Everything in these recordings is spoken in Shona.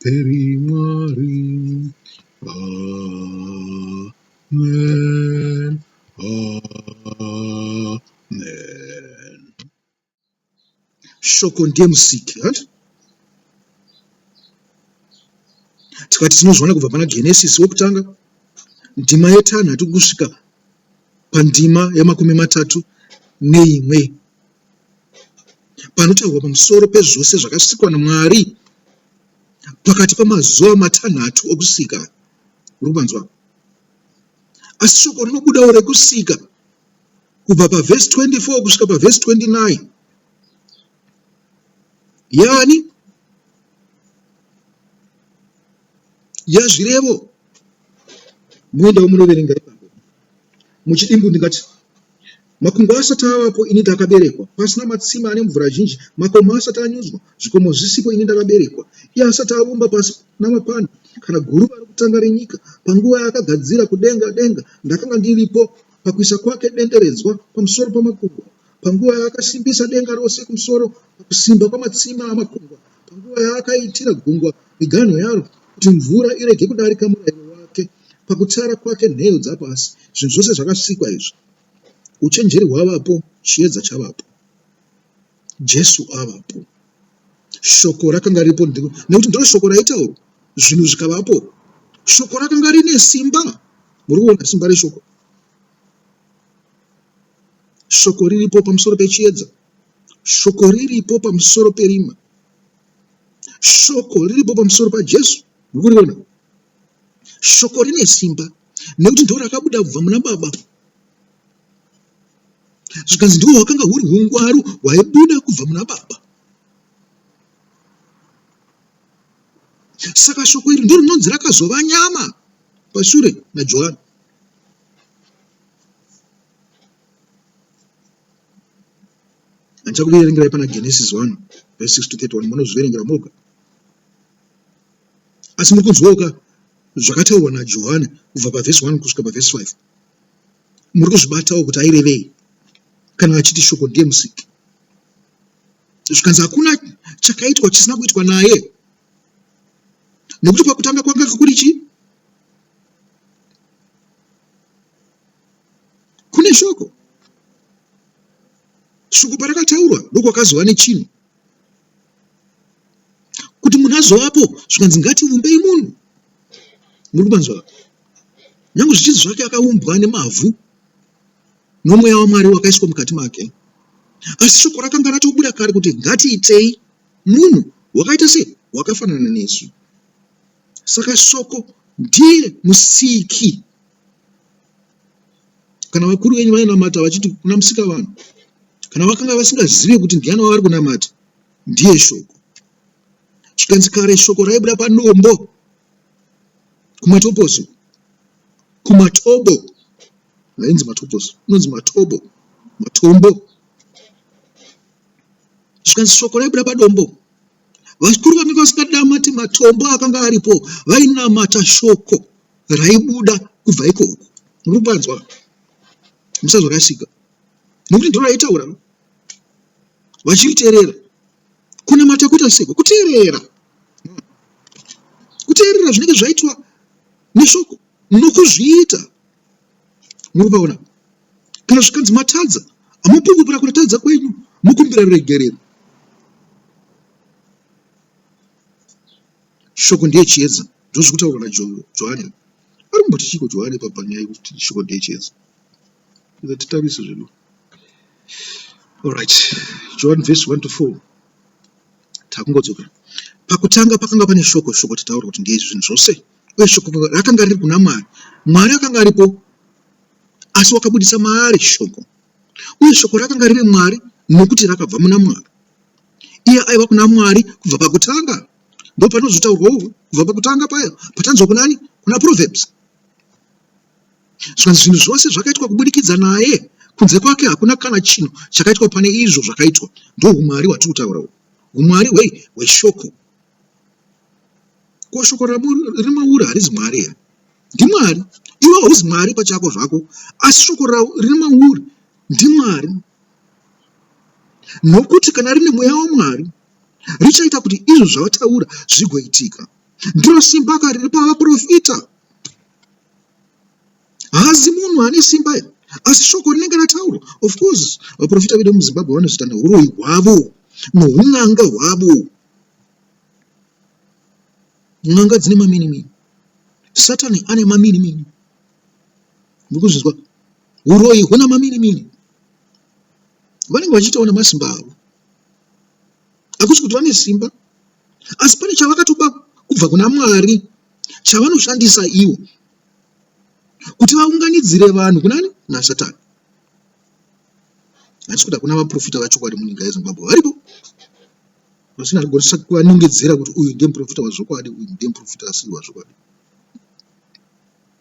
Peri Mwari. Amen. Amen. Shoko ndiye musiki, hanti? Tikati tinozviona kubva pana Genesis wokutanga ndima yetanhatu kusvika pandima yemakumi matatu neimwe panotaurwa pamusoro pezvose zvakasikwa naMwari pakati pamazuva matanhatu okusika. Muri kupanzwa? Asi shoko rinobudawo rekusika kubva pavhesi 24 kusvika pavhesi 29 yani yazvirevo muendawo munoverenga ipapo muchidimbu ndingati Makungwa asati avapo ini ndakaberekwa, pasina matsime ane mvura zhinji, makomo asati anyudzwa, zvikomo zvisipo ini ndakaberekwa, iye asati avumba pasi namapani, kana guruva rokutanga renyika, panguva yaakagadzira kudenga denga, ndakanga ndiripo, pakuisa kwake denderedzwa pamusoro pamakungwa, panguva yaakasimbisa denga rose kumusoro, pakusimba kwamatsime amakungwa, panguva yaakaitira gungwa miganho yaro, kuti mvura irege kudarika murayiro wake, pakutsara kwake nheyo dzapasi, zvinhu zvose zvakasikwa izvo. Uchenjeri hwavapo, chiedza chavapo. Jesu avapo. Shoko rakanga riripo nekuti ndiro shoko raitaurwa zvinhu zvikavapo. Shoko rakanga rine simba. Muri kuona simba reshoko? Shoko riripo pamusoro pechiedza. Shoko riripo pamusoro perima. Shoko riripo pamusoro paJesu. Muri kuriona? Shoko rine simba nekuti ndiro rakabuda kubva muna Baba zvikanzi ndiwo hwakanga huri ungwaru hwaibuda kubva muna Baba. Saka shoko iri ndiro rinonzi rakazova nyama pashure naJohani. Handichakuverengerai pana Genesis 1 verse 6 to 31 munozviverengera moga. Asi muri kunzwawo ka zvakataurwa naJohani kubva pavhesi 1 kusvika pavhesi 5? Muri kuzvibatawo kuti airevei kana achiti shoko ndiye musiki? Zvikanzi hakuna chakaitwa chisina kuitwa naye, nekuti pakutanga kwanga kuri chii? Kune shoko. Shoko parakataurwa ndokwakazova nechinhu kuti munhu azovapo zvikanzi ngativumbei munhu murikubanzwa nyange zvichinzi zvake akaumbwa nemavhu nomweya wamwari wakaiswa mukati make asi shoko rakanga ratobuda kare kuti ngatiitei munhu wakaita sei wakafanana nesu saka shoko ndiye musiki kana vakuru venyu vainamata vachiti kuna musika vanhu kana vakanga vasingazive kuti ndiani wavari kunamata ndiye shoko zvikanzi kare shoko raibuda padombo kumatoposo kumatobo hainzi matoposo inonzi matobo matombo zvikanzi shoko raibuda padombo vakuru vamika vasingadamati matombo akanga aripo vainamata shoko raibuda kubva ikoko muri kupanzwa musazorasika nokuti ndiro raitaura no vachiriteerera kunamata kuita seko kuteerera kuteerera zvinenge zvaitwa neshoko nokuzviita muri kupaona kana zvikanzi matadza amupungupira kuratadza kwenyu mukumbira ruregerero Shoko ndiye chiedza ndozviri kutaurwa naJohane. Ari kumboti chiiko Johane ipapo panyaya yekuti shoko ndiye chiedza? Ngatitarise zvedu. Alright, John verse 1 to 4 takungodzoka. Pakutanga pakanga pane shoko, shoko tataura kuti ndiye zvinhu zvose, uye shoko rakanga riri kuna Mwari. Mwari akanga aripo, asi wakabudisa maari shoko, uye shoko rakanga riri Mwari nokuti rakabva muna Mwari. iye aiva kuna mwari kubva pakutanga ndopanozotaurwa uku kubva pakutanga paya patanzwa kunani kuna proverbs zvikanzi zvinhu zvose zvakaitwa kubudikidza naye kunze kwake hakuna kana chinhu chakaitwa pane izvo zvakaitwa ndoumwari hwatiri kutaura uku umwari hwei hweshoko ko shoko remaura harizi mwari here ndimwari iwe hauzi mwari pachako zvako asi shoko riri mauri ndimwari nokuti kana rine mweya waMwari, richaita kuti izvo zvavataura zvigoitika. Ndiro simba ka riri pavaprofita. Haazi munhu ane simba iri, asi shoko rinenge rataurwa. Of course, vaprofita vedu muZimbabwe vanozoita neuroyi hwavo noun'anga hwavo. N'anga dzine maminimini. Satani ane maminimini. Mukuzvinzwa? Huroyi huna mamirimiri. Vanenge vachiitawo nemasimba avo. Hakusi kuti vane simba asi pane chavakatoba kubva kuna Mwari chavanoshandisa ivo kuti vaunganidzire vanhu kunani nasatani hatisi kuti hakuna vaprofita vachokwadi munyika yezimbabwe varipo vasina kugonesa kuvanongedzera kuti uyu ndiye muprofita wazvokwadi uyu ndiye muprofita asiri wazvokwadi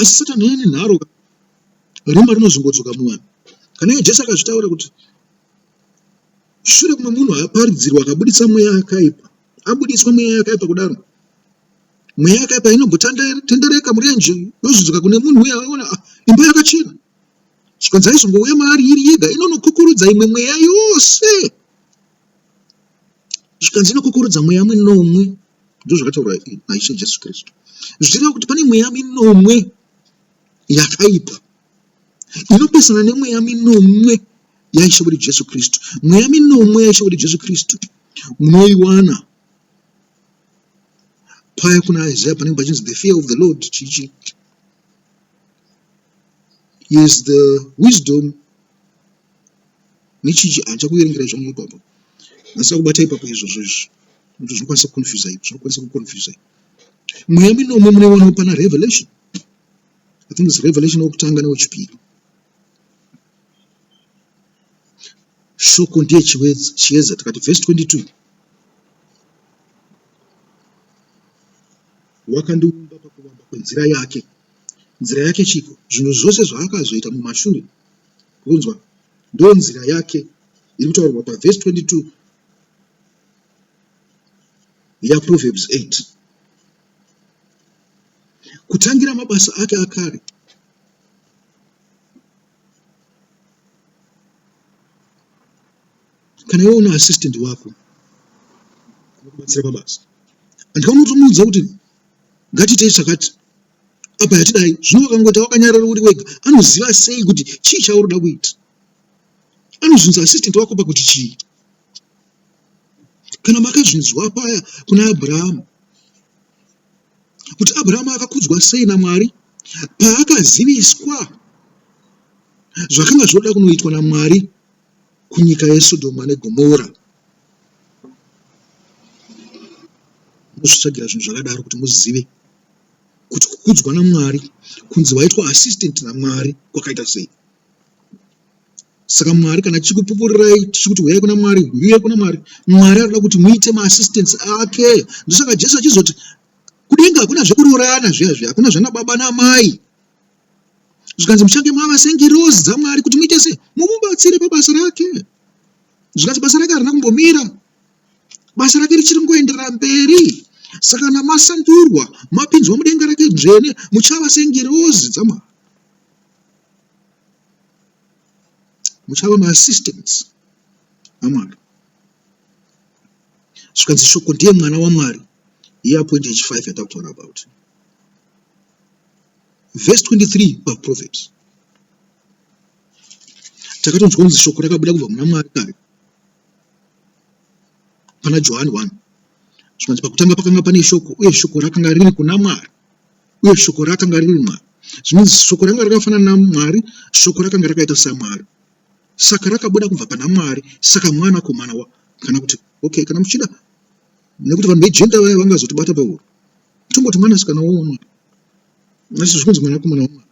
asi satani ane nharo rima rinozongodzoka muvanhu kana iye jesu akazvitaura kuti shure kumwe munhu aparidzirwa akabudisa mweya akaipa abudiswa mweya yakaipa kudaro mweya yakaipa inongotendereka murenje yozodzoka kune munhu uya aona ah, imba yakachena zvikanzi aizongouya maari iri yega inonokukurudza imwe mweya yose zvikanzi inokukurudza mweya minomwe ndozvakataurwa naishe jesu kristu zvichireva kuti pane mweya minomwe yakaipa inopesana nemweya minomwe yaishe wedu jesu kristu mweya minomwe yaishe wedu jesu kristu munoiwana paya kuna isaya panenge pachinzi the fear of the lord chichi is the wisdom nechichi handicha kuverengerai zvangu ipapo handisina kubata ipapo izvozvo izvi kuti zvinokwanisa kuconfusa ipo zvinokwanisa kuconfusa ipo mweya minomwe munoiwanawo pana revelation i think is revelation wokutanga newechipiri shoko ndiye chiedza tikati vhesi 22 wakandiumba pakuvamba kwenzira yake nzira yake chiko zvinhu zvose zvaakazoita mumashure Munzwa? Ndonzira yake iri kutaurwa pavhesi 22 yaProverbs 8. Kutangira mabasa ake akare, kana iwe una assistant wako anokubatsira pabasa andikamuti muudza kuti ngatiitei chakati apa hatidai zvino wakangoita wakanyarara uri wega anoziva sei kuti chii chauri da kuita anozvinza assistant wako pakuti chii kana makazvinzwa paya kuna abrahamu kuti abrahamu akakudzwa sei namwari paakaziviswa zvakanga zvoda kunoitwa namwari kunyika yesodhoma negomora mozvitsvagira zvinhu zvakadaro kuti muzive kuti kukudzwa naMwari, kunzi waitwa assistant naMwari kwakaita sei. Saka Mwari kana tichikupupurirai tichikuti huyai kuna Mwari, huyai kuna Mwari, Mwari anoda kuti muite maassistants ake. Ndosaka Jesu achizoti kudenga hakuna zvekuroorana zviya zviya, hakuna zvana baba namai. Zvikanzi muchange mava sengirozi dzaMwari kuti muite sei? Mumubatsire pabasa rake. Zvikanzi basa rake harina kumbomira. basa rake richiri kungoenderera mberi. Saka kana masandurwa, mapinzwa mudenga rake dzvene, muchava sengirozi dzaMwari. Muchava maassistants aMwari. Zvikanzi shoko ndiye mwana waMwari, year point yechi5 yatakutaura about. Verse 23 paProverbs. Takatonzwa kunzi shoko rakabuda kubva muna Mwari kare. Pana Johani 1 zvikanzi, Pakutanga pakanga pane shoko, uye shoko rakanga riri kuna Mwari, uye shoko rakanga riri Mwari. Zvinonzi shoko rakanga rakafanana naMwari, shoko rakanga rakaita saMwari, saka rakabuda kubva pana Mwari, saka mwanakomana wa kana kuti okay, kana muchida, nekuti vanhu vejenda vaya vangazotibata pahuro, tongoti mwanasikana womwari, asi zvikunzi mwanakomana wamwari,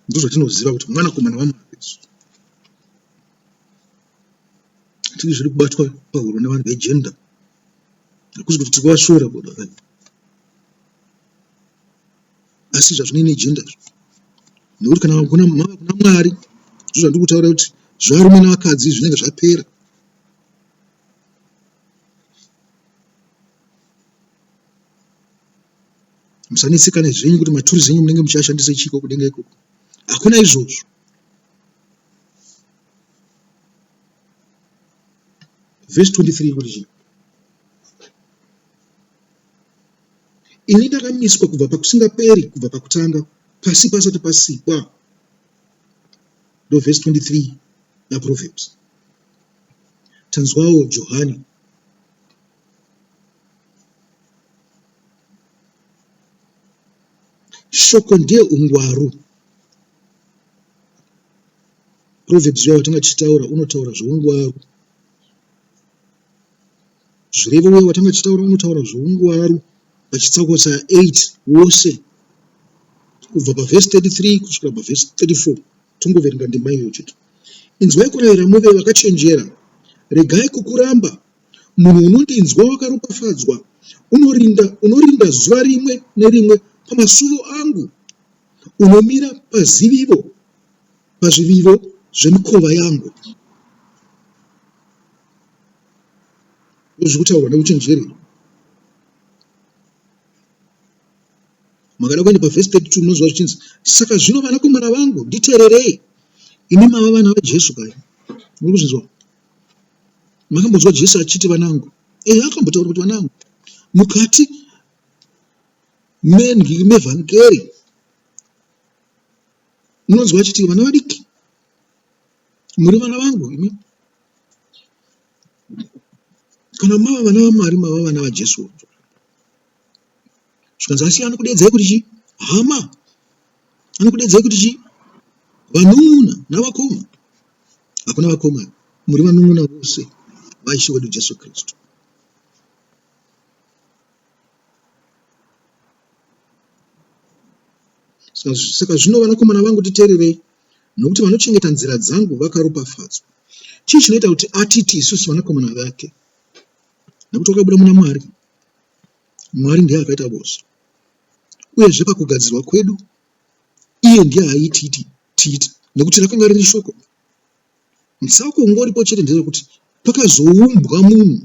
ndozvatinoziva kuti mwanakomana wamwari. tiri zviri kubatwa pahuro nevanhu vegender hakuzi kuti tiri kuvashora bodo aya asi zvazvinei negender nekuti kana kuna mava kuna mwari zvo zvandiri kutaura kuti zvevarume nevakadzi zvinenge zvapera musanetsekane zvenyu kuti maturi zenyu munenge muchiashandisa chiko kudenga ikoko hakuna izvozvo vhesi 23 kuti chii ini ndakamiswa kubva pakusingaperi kubva pakutanga pasi pasati pasikwa ndovhesi 23 naproverbs tanzwawo johani shoko ndiye ungwaru Proverbs uya watanga tichitaura unotaura zveungwaru. Zvirevo uya watanga tichitaura unotaura zveungwaru pachitsauko cha 8 wose kubva pavhesi 33 kusvika pavhesi 34 tongoverenga ndima iyoyo chete. Inzwai kurayira muve vakachenjera, regai kukuramba. Munhu unondinzwa wakaropafadzwa, unorinda, unorinda zuva rimwe nerimwe pamasuvo angu. Unomira pazivivo, pazvivivo zvemikova yangu. Ndozviri kutaurwa neuchenjeri. Makada kuenda pavhesi 32 munoziva zvichinzi, saka zvino vanakomana vangu, nditeererei, imi mava vana vaJesu kai? Muri kuzvinzwa? Makambonzwa Jesu achiti vanangu? Ehe, akambotaura kuti vanangu. Mukati Mendlini mevhangeri munonzwa achiti vana vadiki muri vana vangu imi kana mava vana vamwari mava vana vajesu zvikanzi asi anokudedzai kuti chii hama anokudedzai kuti chii vanun'una navakoma hakuna vakoma muri vanun'una vose vaishe wedu jesu kristu Saka zvino, vanakomana vangu, nditeererei, nokuti vanochengeta nzira dzangu vakaropafadzwa. Chii chinoita kuti atiti isusu vanakomana vake? Nokuti wakabuda muna Mwari. Mwari ndiye akaita vose, uyezve pakugadzirwa kwedu iye ndiye aititi tiite, nokuti rakanga riri shoko. Musauko unge uripo chete ndeyekuti pakazoumbwa munhu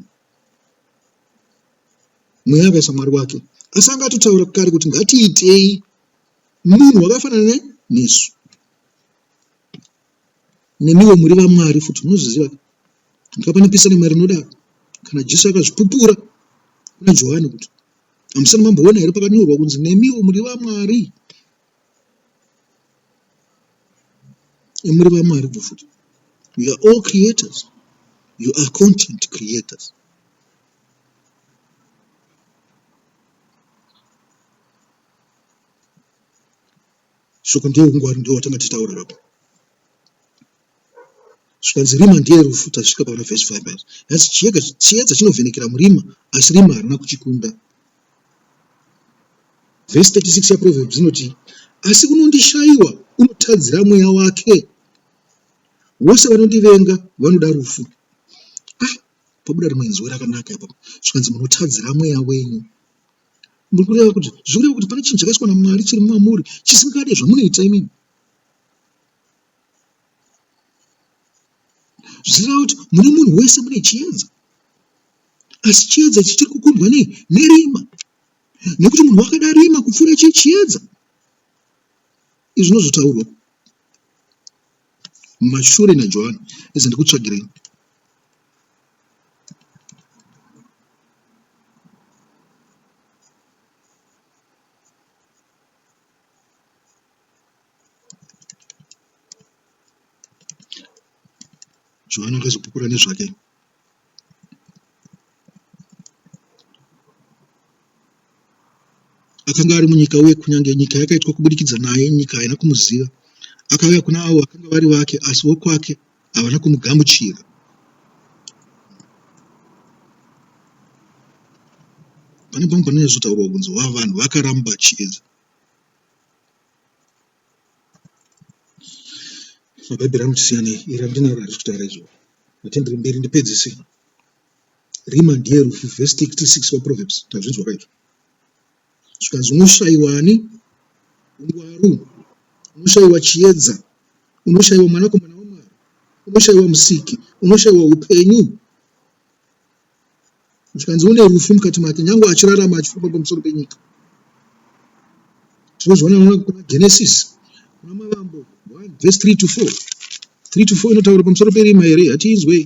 mweya akaisa mwari wake asi anga atotaura kare kuti ngatiitei munhu wakafanana nesu nemiwo muri vamwari futi munozviziva ndikapanipisa nemwari inodaro kana jesu akazvipupura kuna johani kuti hamusani mamboona here pakanyorwa kunzi nemiwo muri vamwari muri vamwari futi we are all creators you are content creators shoko ndeungwari ndiwo watanga tichitaurira apa Zvikanzi rima ndiye rufu tasvika pana verse 5 apa hanzi chiedza chiedza chinovhenekera murima asi rima harina kuchikunda. Verse 36 yaProverbs inoti asi unondishaiwa unotadzira mweya wake vose vanondivenga vanoda rufu. Ah, pabuda rimwe inzwi rakanaka ipapo zvikanzi munotadzira mweya wenyu. Muri kureva kuti zviri kureva kuti pane chinhu chakaiswa naMwari chiri mwamuri chisingade zvamunoita imimi. zvichireva kuti mune munhu wese mune chiedza asi chiedza ichi chiri kukundwa nei nerima nekuti munhu wakada rima kupfuura chii chiedza izvi zvinozotaurwa mashure najohani izi ndikutsvagirei Johani akazopupura nezvake. Akanga ari munyika uye kunyange nyika yakaitwa kubudikidza naye, nyika haina kumuziva. Akauya kuna avo vakanga vari vake, asi vokwake havana kumugamuchira. Pane pamwe panonyatsotaurwa kunzi vanhu vakaramba chiedza. Bhaibheri randisiyane iri randinaro harisi kutaura izvo hatindiri mberi ndipedzise rima ndiye rufu vhesi 66 paproverbs tazvinzwa kaizvo zvikanzi unoshaiwa ani ungwaru unoshaiwa chiedza unoshaiwa mwanakomana wamwari unoshaiwa musiki unoshaiwa upenyu zvikanzi une rufu mukati make nyange achirarama achifamba pamusoro penyika tinozviona nona kuna genesis kuna mavambo 1 vhesi 3 to 4 3 to 4 inotaura pamusoro perima here hatiinzwei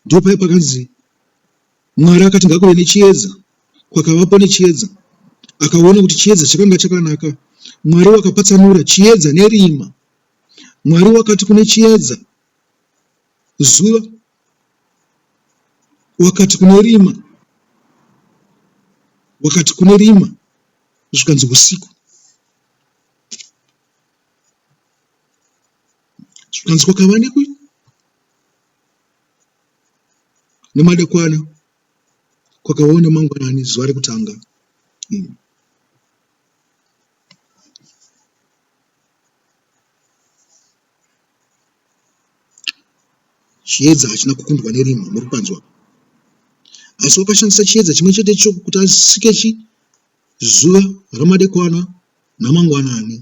ndipo paye pakanzi mwari akati ngakuve nechiedza kwakavapo nechiedza akaona kuti chiedza chakanga chakanaka mwari wakapatsanura chiedza nerima Mwari wakati kune chiedza, zuva wakati kune rima, wakati kune rima, zvikanzi usiku. Zvikanzi kwakava nekui nemadekwana kwakavawo nemangwanani zuva rekutanga. Mm. Chiedza hachina kukundwa nerima muri panzwa asi wakashandisa chiedza chimwe chete icho kuti asike chi zuva ramadekwana namangwanani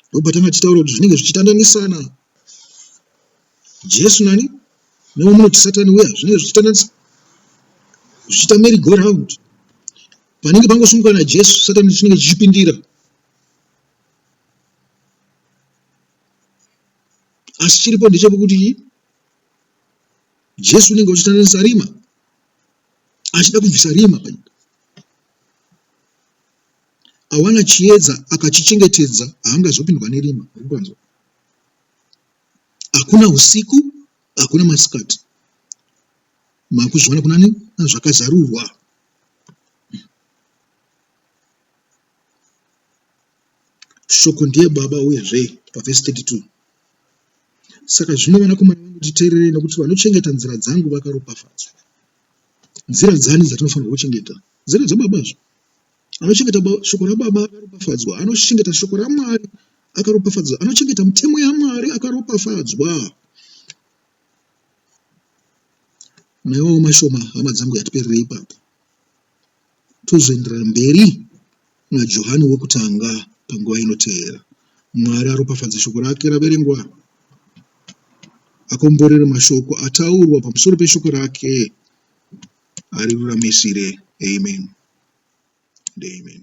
ndobva tanga tichitaura kuti zvinenge zvichitandanisana jesu nani newamunoti satani uya zvinenge zvichitandanisa zvichiita mary go round panenge pangosumuka najesu satani chinenge chichipindira asi chiripo ndechekuti jesu unenge uchitandanisa rima achida kubvisa rima panyika awana chiedza akachichengetedza haangazopindwa nerima rikuanzwa hakuna usiku hakuna masikati makuzviona kunani zvakazarurwa shoko ndiye baba uyezve pavhesi 32 saka zvino vanakomana vangu titeererei nokuti vanochengeta nzira dzangu vakaropafadzwa nzira dzani dzatinofanirwa kuchengeta nzira dzababa zvo anochengeta shoko rababa akaropafadzwa anochengeta shoko ramwari akaropafadzwa anochengeta mitemo yamwari akaropafadzwa Maiwawo mashoma hama dzangu yatiperera ipapo tozoenderera mberi naJohani wokutanga panguva inoteera. Mwari aropafadze shoko rake raverengwa akomborere mashoko ataurwa pamusoro peshoko rake ariruramisire amen and amen.